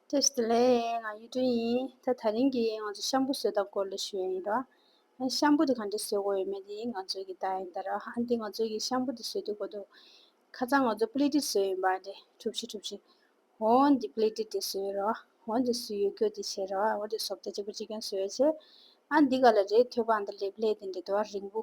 ཏེ། ཞེས་ལན། ང་གཡུ་སྒྲོན་ཡིན། ད་ད་རིང་གི་ང་ཚོ་ཤམ་བུ་བཟོས་ད་སྐོར་ལ་ཞུ་ཡ་ཡིན་རོ། ཨ་ཤམ་བུ་དེ་གང་འདྲ་བཟོས་དགོས་ཡོད་མེད་དེ་ང་ཚོའི་གི་རྟགས་ཡིན་ད་རོ། ཨ་འདི་ང་ཚོའི་གི་ཤམ་བུ་དེ་བཟོས་འདུག་གོ་འདུག། ཁ་ཚང་ང་ཚོ་པུ་ལི་ཏི་བཟོས་ཡིན་པ་ཨ་འདྲེ་གྲུབ་བཞི་གྲུབ་བཞི། འོ་འདི་པུ་ལི་ཏི་དེ་བཟོས་ཡོད་རོ། འོ་འདི་སུ་ཡོད་རྒྱུ་དེ་བྱས་རོ། འོ་འདི་སོབ་ཏ་གཅིག་པུ་གཅིག་ཀྱང་བཟོས་ཡོད་བྱས། ཨ་འདི་ག་ལ་རེད་ཐོས་པ་ཨ་འདྲ་ལེབ་ལེབ་དེ་འདྲེ་དོ་ཨ་རིང་བུ།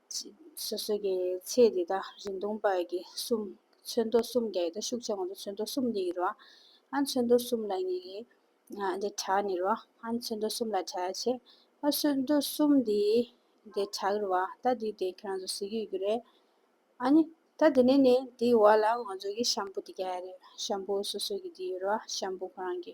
སོ་སོ་ཀའི་ཚེས་འདི་དག་རིང་ཐུང་བར་གྱི་གསུམ། ཚོན་མདོ་གསུམ་བརྒྱ་ཡི་དག་ཤུགས་ཆེ་བ་དང་ཚོན་མདོ་གསུམ་ལྡན་གྱི་རོ། ཨ་ཚོན་མདོ་གསུམ་ལ་ཉེ་གི། འདི་དྲག་ནི་རོ། ཨ་ཚོན་མདོ་གསུམ་ལ་དྲག་ཆེ། ཨ་ཚོན་མདོ་གསུམ་འདི། འདི་དྲག་གི་རོ། ད་འདིའི་དེ་ཁྱོད་རང་ཚོ་གཟིགས་ཡོད་རྒྱུ་རེད། ཨ་ནི། ད་འདི་ནས་ནི་འདིའི་འོག་ལ་ང་ཚོ་གི་ཤམ་བུ་འདི་བརྒྱ་ཡ་རེད། ཤམ་བུ་སོ་སོ་ཀྱི་འདི་ཡོད་རོ། ཤམ་བུ་ཁོ་རང་གི།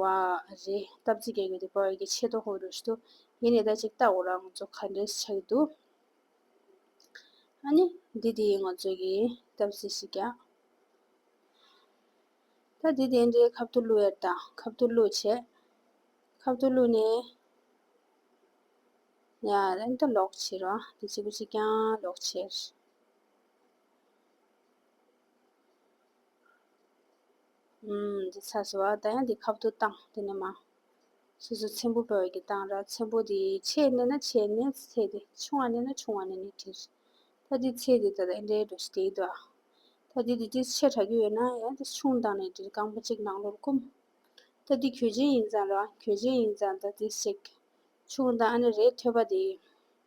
བ་རེད་སྟབས་རྫི་གེ་གེ་དེ་པར་གྱི་ཆེད་དོ་ཧོ་རུ་ཞུ་ཡེ་ནས་ད་ཅིག་ལྟ་འོ་ར་ང་ཚོ་ཁ་འདྲེས་ཆགས་ཀྱི་འདུག་ཨ་ནི་འདི་དེ་ཡིན་ང་ཚོ་གི་སྟབས་རྫི་ཞིག་ཀྱང་ད་དེ་དེ་འདྲའི་ཁབ་ཏུ་བླུག་ཡར་དང་ཁབ་ཏུ་བླུག་བྱས་ཁབ་ཏུ་བླུག་ནས་ཡ་རན་ད་ལོག་བྱེད་ར་དེ་ཅིག་པོ་ཅིག་ཀྱང་ལོག་བྱེད། ཨུམ། འདི་ཚ་ཟེར་བ་ད་ཡང་འདི་ཁབ་ཏུ་བཏང་དེ་ནས་མ། སོ་སོའི་ཚེམ་བུ་འབར་བའི་གྱི་བཏང་ར་ཚེམ་བུ་དེ་ཆེས་གནས་ན་ཆེས་གནས་ཚེ་དེ་ཆུང་བ་གནས་ན་ཆུང་བ་གནས་ནས་དྲིལ། ད་འདི་ཚེ་དེ་ད་ཨེ་འདྲའི་འགྲོ་ཞེས་དེའི་དོ། ད་འདི་དེ་དྲིལ་ཆེས་དྲག་གི་ཡོད་ན་ཡང་དེ་ཆུང་བཏང་ནས་དྲིལ་རྐང་པ་གཅིག་ནང་ལོར་བསྐུམ། ད་འདི་གྱོད་ཆེན་ཡིན་ཙང་རང་གྱོད་ཆེན་ཡིན་ཙང་ད་དེ་བསྲེག། ཆུང་བཏང་ཨ་ནི་རས་ཐོད་པ་དེ།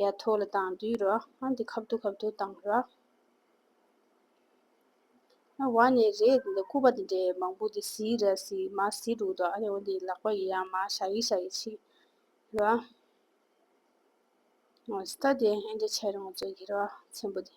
ཡ་ཐོག་ལ་དང་དུས་རོ་ཨ་འདི་ཁབ་ཏུ་ཁབ་ཏུ་དང་རོ། ཨ་བ་ནི་རེད་འདི་འདྲ་སྐུར་པ་འདི་འདྲའི་མང་པོ་འདི་ཟིག་ར་ཟིག་མ་ཟིག་འདུག་དོ་ཨ་རེ་འོ་འདི་ལག་པ་ཡི་ཡང་མ་ཤ་ཡི་ཤ་ཡི་ཕྱིས་རོ། ཨོ་སྟ་དེ་ཨེ་འདྲ་བྱས་རུང་ཅོ་གི་རོ་ཚན་པོ་འདི།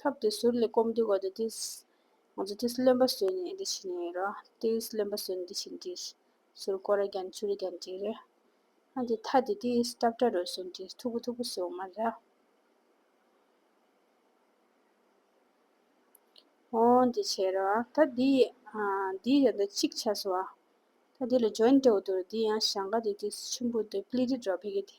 ཐབས་དེ་ཟུར་ལས་སྐོམ་འདི་གོ་དེ་དེས། ང་ཚོ་དེས་རློན་པ་བཟོས་ནས་འདི་བྱས་ནས་ཡིན་རོ། དེས་རློན་པ་བཟོས་ནས་འདི་བྱས་ནས་དེས། ཟུར་ཀོ་ར་གྱང་ཆུ་ར་གྱང་དེ་རེད། ཨ་དེ་ཐ་དེ་དེས་སྐྲ་བཀྲ་རོལ་སོང་དེས་མཐུག་པོ་མཐུག་པོ་བཟོས་འོང་མ་རེད། ཨོ་འདི་བྱས་རོ། ད་འདི། འདི་ཡང་འདི་གཅིག་བྱས་སོང་བ། ད་འདི་ལ་འཇོན་ཏེ་འོ་དོ་རེད་འདི་ཡང་ཞང་ཀ་དེ་དེས་ཆུན་པོ་དེ་པླི་རི་འགྲོ་ཕེ་གེ་དེ།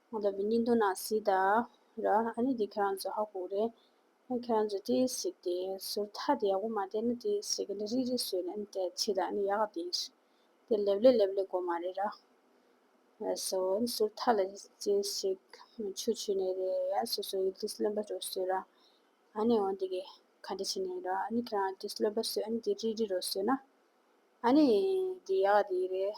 ང་ལ་བི་ནི་འདུག་ན་སི་ད་ར་ཨ་ནི་དེ་ཁྱེད་རང་ཚོ་ཧ་གོ་རེད། ཨ་ཁྱེད་རང་ཚོ་དེ་ཟིག་དེ་ཟུར་ཐག་དེ་ཡག་པོ་མ་བསྟན་ན་དེ་ཟིག་གི་ལི་རིག་རིག་ཟོས་ན་ནི་དེ་ཚིག་དང་ནི་ཡག་ག་དེ་ཟིག་དེ་ལེབ་ལེབ་ལེབ་ལེབ་གོ་མ་རེད་ར། ཡ་སོ་ཟུར་ཐག་ལ་དེ་ཟིག་མི་ཆུ་ཆུ་ནི་རེད་ཡ་སོ་སོ་ཡི་དིས་ལོན་པ་རོ་ཟོས་ར་ཨ་ནི་འོ་དེ་གི་ག་འདྲ་བྱེད་ནི་ར་ཨ་ནི་ཁྱེད་རང་དིས་ལོན་པ་ཟོས་ཨ་ནི་དེ་རིག་རིག་རོ་ཟོས་ན་ཨ་ནི་དེ་ཡག་ག་དེ་རེད།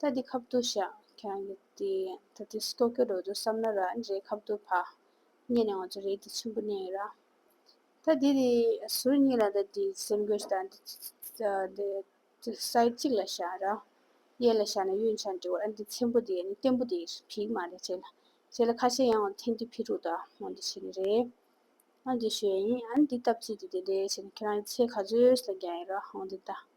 ད་འདི་ཁབ་ཏུ་བཞག་ཁྱོད་རང་གི་དེ་ད་ལྟའི་སྐྱོ་སྐྱོ་རོ་རོ་བསམ་ན་ར་འདྲེའི་ཁབ་ཏུ་བག་ཉལ་ནས་ང་ཚོ་རེད་དེ་ཆུན་པོ་གནས་ཡོད་ར། ད་འདི་དེ་ཟུར་གཉིས་ལ་ད་འདི་སེམས་གོས་ད་འདི་འདི་སའི་གཅིག་ལ་བཞག་ར། གཡས་ལ་བཞག་ན་གཡོན་ཆ་འདྲི་བར་ཨ་འདི་ཚེམ་པོ་དེ་ནི་བརྟན་པོ་དེ་བིག་མ་རེད་བྱས་ལ་བྱས་ལ་ཁ་ཤས་ཡང་ངོ་འཐེན་འདི་ཕི་ཕྲུག་ད་ངོ་འདི་བྱས་ནི་རེད་ཨ་འདི་ཞོས་ཡིན་ཨ་འདི་སྟབས་ཚིག་དེ་དེ་འདྲས་བྱས་ན་ཁྱོད་རང་གི་ཚེ་ག་ཚོད་ལ་རྒྱག་ཡོད་ར་ངོ་འདི་ད།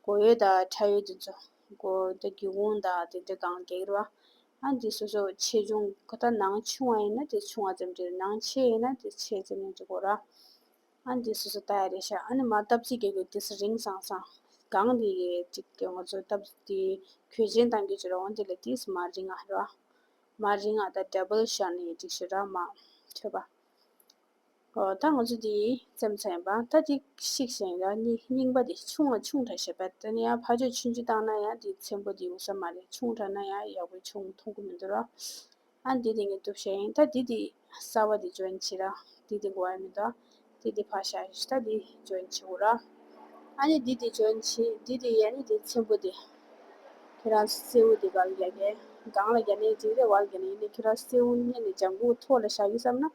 སྒོ་ཡོལ་དང་ཁྲ་ཡོལ་དུ་འཛུལ། སྒོ་དང་སྒེའུ་ཁུང་དང་དེ་འདྲ་གང་གཱའི་རུ། ཨ་འདི་སོ་སོར་ཆེ་ཆུང་གོ། ད་ནང་ཆུང་བ་ཡིན་ན་དེ་ཆུང་བ་ཙམ་བྲིས། ནང་ཆེ་ཡིན་ན་དེ་ཆེ་ཙམ་ཡང་བྲི་དགོས། ར་ཨ་འདི་སོ་སོར་ད་ཡ་རེ་ཤག་ཨ་ནི་མ་སྟབས་གཅིག་གེ་གོ་དེ་སྲིད་རིང་སང་སང། གང་དེ་གེ་གཅིག་གེ་ངོ་ཚོ་སྟབས་དེ་གོས་ཆེན་དང་གོས་ཆེ་ར་འོང་དེ་ལ་དེ་སྲིད་མ་རིང་ཨ་ར། མ་རིང་ཨ་ད་དྲ་བལ་ཤག་ནི་ཡེ་གཅིག་ཤི་ར་མ། ཐོས་པ། ད་ང་ཚོ་འདི་སེམས་ཚེགས་པ་ད་འདི་ཤིག་བཞེངས་ད་འདི་རྙིང་པ་འདི་ཆུང་བ་ཆུང་དྲགས་བྱས་པ་ད་ནི་ཡང་ཕ་ཆོས་ཆུན་ཆུན་བཏང་ན་ཡང་འདི་ཚེམ་བུ་འདི་འུ་ས་མ་རེད་ཆུང་དྲགས་ན་ཡང་ཡག་པོ་ཆུང་མཐོང་གི་མི་འདུག་ར་ཨ་འདི་འདི་ངས་གཏུབ་བྱས་ཡིན་ད་འདི་འདི་གསར་བ་འདི་འཇོན་བྱས་ར་འདི་འདི་འགོ་ཡ་མི་འདུག་འདི་འདི་ཕར་བཞག་ཞིག་ད་འདི་འཇོན་བྱས་འོ་ར་ཨ་ནི་འདི་འདི་འཇོན་བྱས་འདི་འདི་ཡ་ནི་འདི་ཚེམ་བུ་འདི་ཁྱེད་རང་སེའུ་འདི་གར་རྒྱག་གི་སྒང་ལ་རྒྱག་ནས་འཇིགས་རེ་བར་གྱི་ནི་ཡིན་ནས་ཁྱེད་རང་སེའུ་རྙེད་ནས་ལྗང་གུ་ཐོག་ལ་བཞག་གི་བསམ་ན་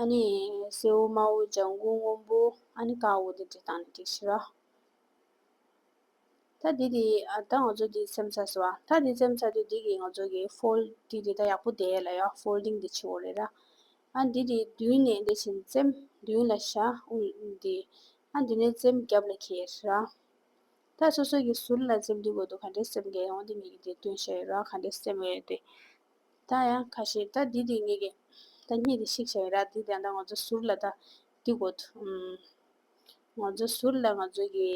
ཨཱ་ནི། སེའུ་དམར་བོ་ལྗང་གུ་སྔོན་པོ་ཨཱ་ནི་དཀར་བོ་དེ་དྲིལ་བཏང་ནས་བྲིས་ཤིག་རོ། ད་འདི་དེ་ད་ང་ཚོ་འདི་སེམས་ཚར་ཟེར་བ་ད་འདི་སེམས་ཚར་དུས་འདི་གི་ང་ཚོ་གི་ཧྥོལ་ཏི་དེ་ད་ཡག་པོ་བསྡད་ལ་ཡོད་ཧྥོལྡིང་དེ་ཆེ་བོ་རེད་ར། ཨ་འདི་དེ་མདུན་ནས་འདི་བྱིན་རྩེམ་མདུན་ལ་བཞག་ཨུ་འདི་ཨ་འདི་ནས་རྩེམ་རྒྱབ་ལ་ཁྱེར་ཟེར་ར། ད་སོ་སོ་གི་ཟུར་ལ་རྩེམ་འདི་དགོས་འདུག་ག་འདྲའི་སེམས་ཀྱི་ཡོང་འདི་མི་གི་དེ་སྟོན་བཤད་ཡོད་ར་ག་འདྲའི་སེམས་ཡོད་དེ། ད་ཡང་ཁ་ཤེས་ད་འདི་དེ་ངེས་ཀྱི་ད་གཉིས་དེ་ཤིག་བྱས་ར་འདི་དེ་ད་ང་ཚོ་ཟུར་ལ་ད་འདི་གོ་ཐུ་ང་ཚོ་ཟུར་ལ་ང་ཚོ་གི་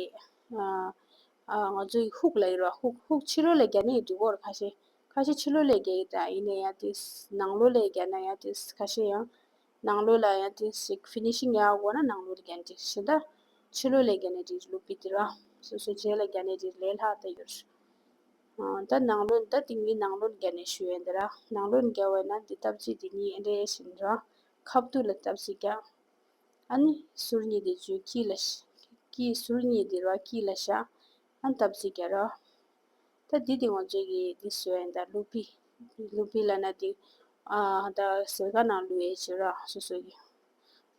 ཨ་ང་ཚོ་ཧུག་ལ་ཡོད་ར་ཧུག་ཧུག་ཕྱི་རོལ་ལ་རྒྱ་ནས་འདི་གོ་ར་ཁ་ཤེས་ཁ་ཤེས་ཕྱི་ལོ་ལས་རྒྱ་ཡིན་ད་ཡིན་ནས་ཡ་དེ་ནང་ལོ་ལས་རྒྱ་ན་ཡ་དེ་ཁ་ཤེས་ཡང་ནང་ལོ་ལ་ཡ་དེ་ཤིག finishing ཡ་གོ་ན་ནང་ལོ་རྒྱ་ན་དེ་ཤེས་ད་ཕྱི་ལོ་ལས་རྒྱ་ན་དེ་ལུག་པི་དེ་ར་སོ་སོ་རྗེས་ལ་རྒྱ་ནས་དེ་ལས་ལྷག་ད་ཡོད། ད་ནང་ལོན་ད་དེ་གཉིས་ནང་ལོན་བརྒྱ་ནས་ཞུ་ཡས་འདི་ར་ནང་ལོན་བརྒྱ་བས་ན་འདི་སྟབས་ཀྱིས་འདི་གཉིས་འདྲེ་བཞིན་ར་ཁ་བསྡུ་ལ་སྟབས་ཀྱིས་བརྒྱ། ཨ་ནི་ཟུར་གཉིས་འདི་བརྗོད་ཀྱིས་ལ་ཀྱིས་ཟུར་གཉིས་འདི་ར་ཀྱིས་ལ་བཞག་ཨ་ནི་སྟབས་ཀྱིས་བརྒྱ་ར། ད་འདི་དེ་ངོ་བྱེད་ཀྱིས་འདི་ཟོས་ཡས་འདར་ལུག་པི་ལུག་པི་ལ་ན་འདི་ད་ཟེར་ག་ནང་ལུས་ཡས་བྱེད་ར་སོ་སོ་གྱིས།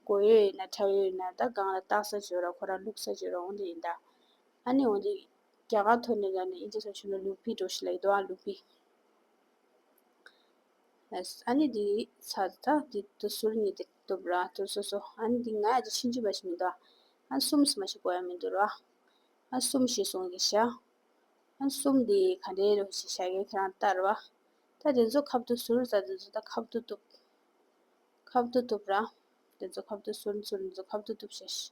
མགོ་ཡོད་ཡིན་ན་ཁྲ་ཡོད་ཡིན་ན་ད་སྒང་ལ་བཏགས་ས་བྱོས་ར་ཁོ་ར་ལུག་ས་བྱོས་ར་འོང་འདི་ཡིན་ད་ཨ་ནི་འོང་འདི། རྒྱ་གར་དོན་གཉེར་ལ་ནི་ཨིན་ཇི་སོགས་ཆོས་ལུགས་ལུགས་མཐུན་གྲོགས་ཤིག་ལ་ཡི་དྭོགས་ཨང་ལུགས་མཐུན། ཨ་ནི་དེའི་ཚ་ད་དེ་དུ་ཟུར་གཉིས་ཏེ་གཏུབ་ར་དུ་སོ་སོ་ཨ་ནི་དེ་ང་ཡ་དེ་ཕྱིན་ཅི་བ་ཞིག་མི་འདུག་ཨ་ཨ་སུམ་སུ་མ་ཞིག་གོ་ཡ་མི་འདུག་རོ་ཨ་ཨ་སུམ་ཞེས་གསུངས་ཀྱིས་ཤག་ཨ་སུམ་དེ་ག་འདྲའི་རོ་ཞེས་ཤ་ཀའི་ཁྱེད་རང་ལྟ་རོ་ཨ་ད་དེ་ཚོ་ཁབ་ཏུ་ཟུར་ཟ་དེ་ཚོ་ད་ཁབ་ཏུ་གཏུབ། ཁབ་ཏུ་གཏུབ་ར་དེ་ཚོ་ཁབ་ཏུ་ཟུར་ཟུར་དེ་ཚོ་ཁབ་ཏུ་གཏུབ་ཤག།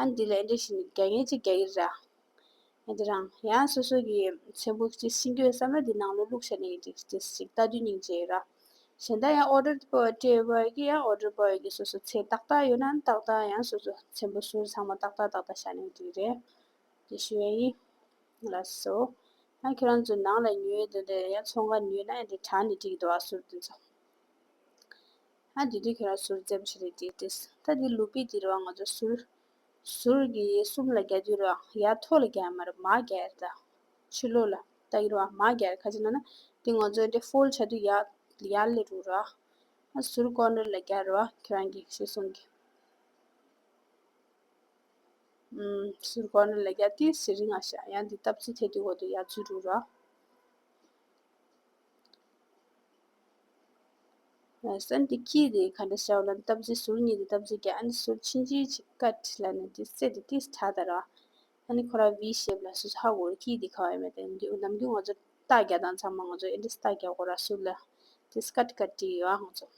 ཨ་འདི་ལས་འདི་བཞིན་རྒྱ་ཡན་གཅིག་རྒྱ་ཡིར་ར། ཡང་འདི་རང་ཡང་སོ་སོ་གི་མཚན་བུ་གཅིག་ཤིང་གོས་སམ་ར་འདི་ནང་ལོ་བླུགས་བྱས་ནས་ཀྱི་ཅིག་ཅིག་ཅིག་རྟ་བདུན་སྙིང་རྗེའི་ར། གཞན་དག་ཡང་ཨོ་རོད་པོ་ཏྲེ་བ་ཡི་ཡང་ཨོ་རོད་པོ་ཡི་གི་སོ་སོ་ཚེ་ཏག་ཏག་ཡོད་ན་ཏག་ཏག་ཡང་སོ་སོ་མཚན་བུ་ཟུར་ཚང་མ་ཏག་ཏག་ཏག་ཏག་བྱས་ནས་ཀྱི་རེད། ཀྱི་ཞུ་བའི་ཡིན། ལ་སོ། ཡང་ཁྱོད་རང་ཚོ་ནང་ལ་ཉུལ་དེ་འདི་ཡང་ཚོང་ཁ་ཉུལ་ན་ཡང་འདི་གྲངས་འདི་གཅིག་གི་འདུག་ཨ་ཟུར་དེ་ཚོ། ཨ་དེ་དུས་ཁྱོད་རང་ཟུར་འཛེམ་བྱེད་རེད་དེ་དྲིས། ད་དེ་ལུག་པའི་དུས་རེད་བ་ང་ཚོ་ཟུར། ཟུར་གྱི་ཡས་གསུམ་ལ་བརྒྱ་དུས་རེད་བ་ཡ་ཐོག་ལ་བརྒྱ་མ་རེད་མ་བརྒྱ་ཡར་ད། ཕྱི་ལོག་ལ་ད་ཡིན་རེད་བ་མ་བརྒྱ་ཡར་ཁ་ཅིག་ན་ན་དེ་ང་ཚོའི་འདྲེ་ཧྥོལ་བྱ་དུས་ཡར་ཡར་ལས་དྲུག་རེད་བ། ཨ་ཟུར་ཀོར་ནེར་ལ་བརྒྱ་རེད་བ་ཁྱོད་རང་གིས་ཞེས་གསུངས་ཀྱི། ཟུར་ཀོར་ནེར་ལ་བརྒྱ་དུས་ཟེར་རིགས་ང་ཤ་ཡང་དེ་སྟབས་ཚུལ་ཐད་དུས་འོག་ཏུ་ཡར་ཚུལ་དྲུག་རེད་བ། ས་འདི་སྐྱིད་དེ་ག་འདྲ་ཞའོ་ལན་སྟབས་ཟེར་ཟུར་གཉིས་དེ་སྟབས་ཟེར་གྱིས་ཨ་ནི་ཟུར་ཕྱིན་ཅི་ཆི་ཀ་ཁྲི་ལ་ནི་དེ་སེ་དེ་ཏིས་ཁྲ་ད་ར། ཨ་ནི་ཁོ་ར་བིའི་ཞེབས་ལ་སུ་ཧ་གོ་ར་སྐྱིད་དེ་ཁ་བའི་མེ་ཏེ་ནམ་རྒྱུན་ང་ཚོ་རྟ་རྒྱ་དང་ཚང་མ་ང་ཚོ་ཨེ་འདྲ་སྟ་རྒྱ་གོ་ར་ཟུར་ལ་དེ་སྐ་ཏི་ཀ་ཏི་ཡོད་ཨ་ང་ཚོ།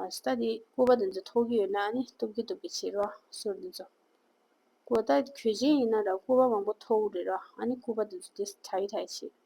ཨ་ད་དེ་སྐུ་པ་དེ་ཚོ་ཐོག་གི་ཡོད་ན་ཨ་ནི་སྟུབ་ཀི་སྟུབ་ཀི་བྱེད་ར་ཟུར་དེ་ཚོ། ཀོ་ད་གོས་ཅན་ཡིན་ན་ར་སྐུ་པ་མང་པོ་ཐོག་རེད་ར་ཨ་ནི་སྐུ་པ་དེ་ཚོ་དེ་ཁྲ་ཡི་ཁྲ་ཡི་བྱེད།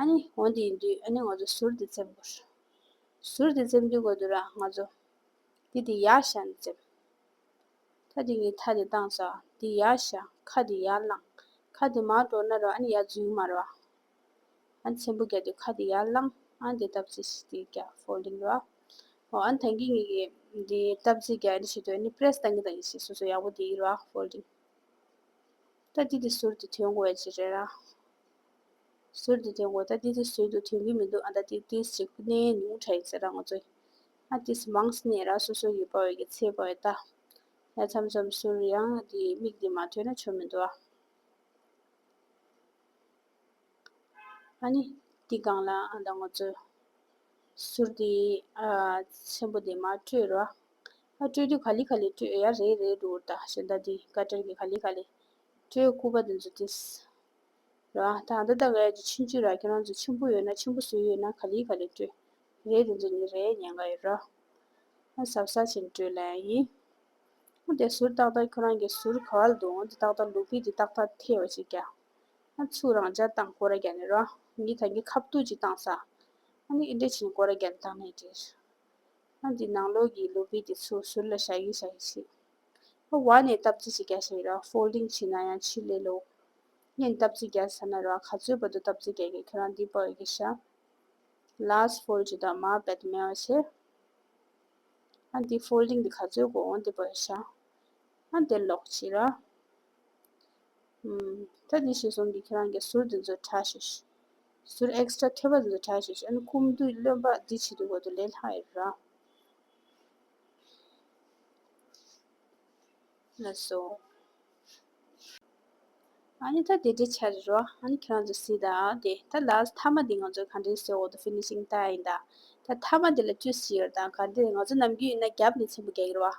ཨ་ནི་འོན་ཏེ་ཡིན་དུས་ཨ་ནི་ང་ཚོ་ཟུར་དེ་འཛེམ་དགོས། ཟུར་དེ་འཛེམ་དུས་དགོས་དུས་རང་ང་ཚོ་འདི་དེ་ཡར་བཞག་ནས་འཛེམ། ཐ་དེ་གཉིས་ཐ་དེ་བཏང་ཟ་འདི་ཡར་བཞག་ཁ་དེ་ཡར་བླངས་ཁ་དེ་མར་འགྲོ་ན་རོ་ཨ་ནི་ཡར་འཛུལ་མར་བ། ཨ་ནི་ཚན་པོ་རྒྱག་དུས་ཁ་དེ་ཡར་བླངས་ཨ་ནི་དེ་སྟབས་རྩེ་ཞིག་དེ་རྒྱག folding རོ། ཨོ་ཨ་ནི་ཐང་གི་གཉིས་ཀྱི་དེ་སྟབས་རྩེ་རྒྱག་ཨ་ནི་བྱེད་དུས་ཨ་ནི press བཏང་གི་བཏང་གི་ཞིག་སོ་སོ་ཡག་པོ་དེ་ཡིན་རོ folding། ཐ་འདི་དེ་ཟུར་དེ་དོན་གོ་བའི་ཅི་རེད་ར། ཟུར་འདི་དེ་ངོ་ད་ཏི་ཏི་ཟུར་དུ་ཐོན་གྱི་མི་འདུག་ཨ་ད་ཏི་ཏི་ཟེར་ཁུ་ནའི་ཉུང་ཕྲ་ཡིན་ཟེར་ར་ང་ཚོས་ཨ་ཏི་སི་མང་སི་ནས་ར་སོ་སོ་གི་པ་འོས་ཀྱི་ཚེ་པ་འོས་ད་ཡ་ཚམ་ཚམ་ཟུར་ཡང་འདི་མིག་འདི་མ་ཐོན་ན་ཆོ་མི་འདུག་ཨ་ནི་ཏི་སྒང་ལ་ཨ་ད་ང་ཚོས་ཟུར་འདི་ཨ་ཆེན་པོ་འདི་མ་སྤྲོད་ར་ཨ་སྤྲོད་དུས་ག་ལི་ག་ལི་སྤྲོད་ཡ་རེད་རེད་འདུག་ད་ཞེ་ད་འདི་བཀའ་ཁྲིར་གྱི་ག་ལི་ག་ལི་སྤྲོད་སྐུ་པ་འདི་ཚོ་ཏི་སི། རེད་བ་དང་འདི་ལྟར་ངས་ཀྱི་ཕྱིན་ཅི་ར་ཁྱེད་རང་ཚོ་ཆེན་པོ་ཡོད་ན་ཆེན་པོ་བཟོས་ཡོད་ན་ག་ལི་ག་ལི་སྤྲོད་རེད་དེ་ཚོ་ནི་རེད་ཉན་ག་ཡོད་ར་ཨ་ཟབ་ས་ཆེན་སྤྲོད་ལན་ཡིན་ཨ་དེ་ཟུར་ཏག་ཏག་ཁྱོད་རང་གི་ཟུར་ག་ལ་འདུག་ཨ་དེ་ཏག་ཏག་ལུག་བི་དེ་ཏག་ཏག་ཐེ་བ་ཅིག་གྱ་ཨ་ཚུགས་རང་འཇག་སྟངས་སྐོར་ར་གྱ་ནི་ར་ངི་ད་ངི་ཁ་བཏུག་ཅིག་སྟངས་ས་ཨ་ནི་ཨི་འདྲ་བྱིན་སྐོར་ར་གྱ་ནི་ཏག་ནས་འདྲིར་ཨ་འདི་ནང་ལོག་གི་ལུག་བི་དེ་ཚོ་ཟུར་ལ་ཞག་ཡིན་ཞག་ཡིན་ཟིག་ཨ་བ་ནས་སྟབས་ཅི་ཞིག་གྱ་ཞིག་ར་ཧྥོལ་ལིང་བྱིན་ན་ཡང་ཕྱིར་ལས་ལོག། ངས་འདབ་རྩེ་བརྒྱད་ཟེར་ན་རེ་བ་ག་ཚོད་བབ་འདུག་འདབ་རྩེ་བརྒྱད་ཀྱི་ཁྱོད་རང་འདི་པོ་འོས་ཀྱི་ཤ། Last Four ཇི་ལྟར་མར་བད་དུ་མེ་བ་ཕྱིར། ཨ་འདི Four ལིང་འདི་ག་ཚོད་དགོས་འོང་འདི་པོ་འོས་ཤ། ཨ་འདིར་ལོག་ཅིག་ར། ད་འདི་ཤི་སོང་གི་ཁྱོད་རང་གི་ཟུར་འདི་ཚོ་ཁྲ་ཤིག། ཟུར Extra ཐོད་པ་འདི་ཚོ་ཁྲ་ཤིག་ཨ་ནི་ཀུམ་བདུད་བློན་པ་འདི་བྱེད་འདུག་བོད་དུ་ལས་ལྷག་ཡོད་ར། ལ་སོགས། ཨཱ་ནི་ད་དེ་འདྲའི་ཆ་རེད་རོ། ཨཱ་ནི་ཁྱེད་རང་ཚོ་སྲིད་ཨ་དེ། ད་ལ་ཨཱ་མཐའ་མ་དེ་ང་ཚོ་ག་འདྲའི་སྲོལ་འོག་ཏུ Finishing Tie ཡིན་ད། ད་མཐའ་མ་དེ་ལ་བཅུ་བཞི་ཡོད་ད། ག་འདྲའི་ང་ཚོ་ནམ་རྒྱུན་ཡིན་ན་རྒྱབ་ནས་ཆེན་པོ་རྒྱག་གི་རེད་བ།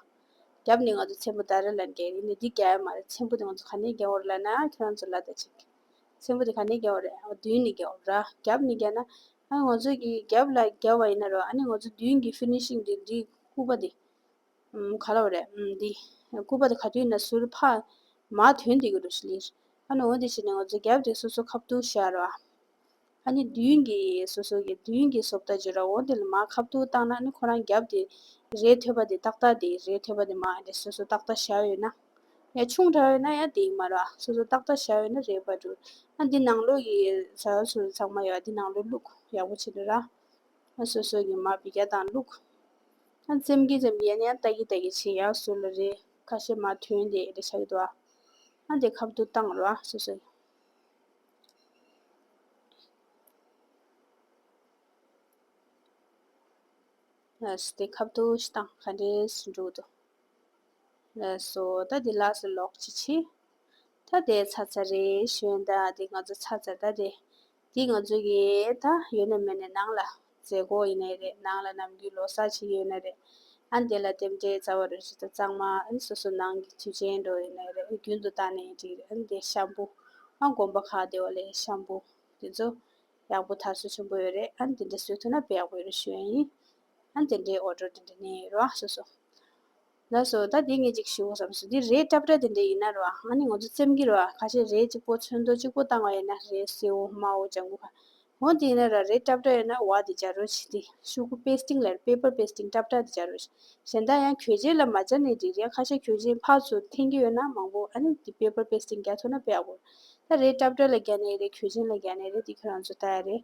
རྒྱབ་ནས་ང་ཚོ་ཆེན་པོ་ད་རེད་ལ་འགྱེལ་ཡིན་ན་འདི་རྒྱག་ཡ་མ་རེད་ཆེན་པོ་དེ་ང་ཚོ་ག་ནས་རྒྱག་འོ་རེད་ལ་ན་ཨ་ཁྱེད་རང་ཚོ་ལ་ད་ཅིག། ཆེན་པོ་དེ་ག་ནས་རྒྱག་འོ་རེད་ཨ་མདུན་ནས་རྒྱག་འོ་རེད་ར་རྒྱབ་ནས་རྒྱག་ན། ཨ་ནི་ང་ཚོ་གི་རྒྱབ་ལ་རྒྱབ་བ་ཡིན་ན་རོ་ཨ་ནི་ང་ཚོ་མདུན་གྱི Finishing དེ་འདི་ཁུག་པ་དེ། ག་ལ་བ་རེད་འདི། སྐུད་པ་དེ་ག་དུས་ན་ཟུར་ཕ་མ་དོན་འདི་གུ་རུ་ཞིག་ལིར། ཨ་ནུ་འོ་འདི་བྱས་ནས་ང་ཚོ་རྒྱབ་དེ་སོ་སོ་ཁ་བཏུག་ཤར་ར། ཨ་ནི་མདུན་གྱི་སོ་སོ་གི་མདུན་གྱི་སོབ་ད་འཇོ་ར་འོ་འདི་ལ་མ་ཁ་བཏུག་བཏགས་ན་ཨ་ནི་ཁོ་རང་རྒྱབ་དེ་རེད་ཐོད་པ་དེ་ཏག་ཏག་དེ་རེད་ཐོད་པ་དེ་མ་དེ་སོ་སོ་ཏག་ཏག་ཤར་ཡོད་ན། ཡ་ཆུང་དྲག་ཡོད་ན་ཡ་དེ་མ་ར་སོ་སོ་ཏག་ཏག་ཤར་ཡོད་ན་རེད་བ་འདུག་ཨ་འདི་ནང་ལོགས་ཀྱི་ཟ་བ་སོ་སོ་ཚང་མ་ཡ་འདི་ནང་ལོགས་བླུག་ཡག་པོ་བྱེད་འདོད་ར། ཁྱོད་སོ་སོ་གི་མ་བི་རྒྱ་དང་བླུགས། ཁྱོད་ཙེམ་གི་ཙེམ་གི་ཡན་ཡང་ལྟ་གི་ལྟ་གི་བྱིན་ཡག་སུ་ལ་རེ་ཁ་ཤེ་མ་ཐོན་དེ་རེ་ཤག་དུ་ཨ། ཨ་དེ་ཁབ་ཏུ་བཏང་རོ་ཨ་སོ་སོ། ཨས་དེ་ཁབ་ཏུ་ཤི་དང་ཁ་འདྲེ་སུ་འགྲུག་དུ། ཨས་སོ་ད་དེ་ལགས་སུ་ལོག་ཅི་ཆི། ད་དེ་ཚ་ཚ་རེ་ཞོན་ད་དེ་ང་ཚོ་ཚ་ཚ་ད་དེ། འདི་ང་ཚོ་གི་ད་ཡོད་ནས་མེད་ནས་ནང་ལ་མཛད་སྒོ་ཡིན་ནའི་རེད་ནང་ལ་ནམ་རྒྱུན་ལོ་སར་བྱེད་ཀྱི་ཡོད་ནའི་རེད་ཨ་འདི་ལ་དེབ་འདྲའི་རྩ་བ་རུ་བྱེད་ད་གཙང་མ་ཨ་སོ་སོ་ནང་གི་དུས་ཆེན་འགྲོ་ཡོད་ནའི་རེད་རྒྱུན་དུ་ད་ནས་འགྲིག་རེད་ཨ་འདི་ཤམ་བུ་ཨ་དགོན་པ་ཁག་དེ་བ་ལས་ཤམ་བུ་དེ་ཚོ་ཡག་པོ་དར་སོ་ཆེན་པོ་ཡོད་རེད་ཨ་འདི་འདྲ་བཟོས་ཐུབ་ན་བེད་ཡག་པོ་ཡོད་རེད་ཞུ་ཡ་ཡིན་ཨ་འདི་འདྲའི་འོ་སྒྲོ་འདི་འདྲ་ནས་རོ་ཨ་སོ་སོ། ལགས་སོ། ད་དེ་ངས་ཅིག་ཞུའོ་བསམས་སོ། འདི་རས་སྐྲ་བཀྲ་དེ་འདྲས་ཡིན་ན་རོ། ང་ནི་ང་ཚོ་སེམས་ཀྱི་རོ། ཁ་ཤས་རས་གཅིག་པོ་ཚོན་མདོག་གཅིག་པོ་བཏང་བ་ཡིན་ན་རས་སེའུ་མའོ་ལྕགས་མགོ་ཁ། འོ་དེ་ཡིན་ན་ར་རས་སྐྲ་བཀྲ་ཡིན་ན་བ་དེ་སྦྱར་རོ་ཞེས་ཏེ་ཤུ་གུ་པེ་སྟིང་ལར Paper Pasting སྐྲ་བཀྲ་དེ་སྦྱར་རོ། གཞན་དག་ཡང་གྱོད་ཆས་ལ་མ་སྦྱར་ནས་འགྲིག་རེད་ཁ་ཤས་གྱོད་ཆས་ཕག་ཚོ་འཐེན་གྱི་ཡོད་ན་མང་པོ་ཨ་ནི་དེ Paper Pasting རྒྱག་ཐུབ་ན་བེ་ཨ་བོར། ད་རས་སྐྲ་བཀྲ་ལ་རྒྱག་ནའི་རེད་གྱོད་ཆས་ལ་རྒྱག་ནའི་རེད་དེ་ཁྱོད་རང་ཚོ་ལྟ་ཡ་རེད།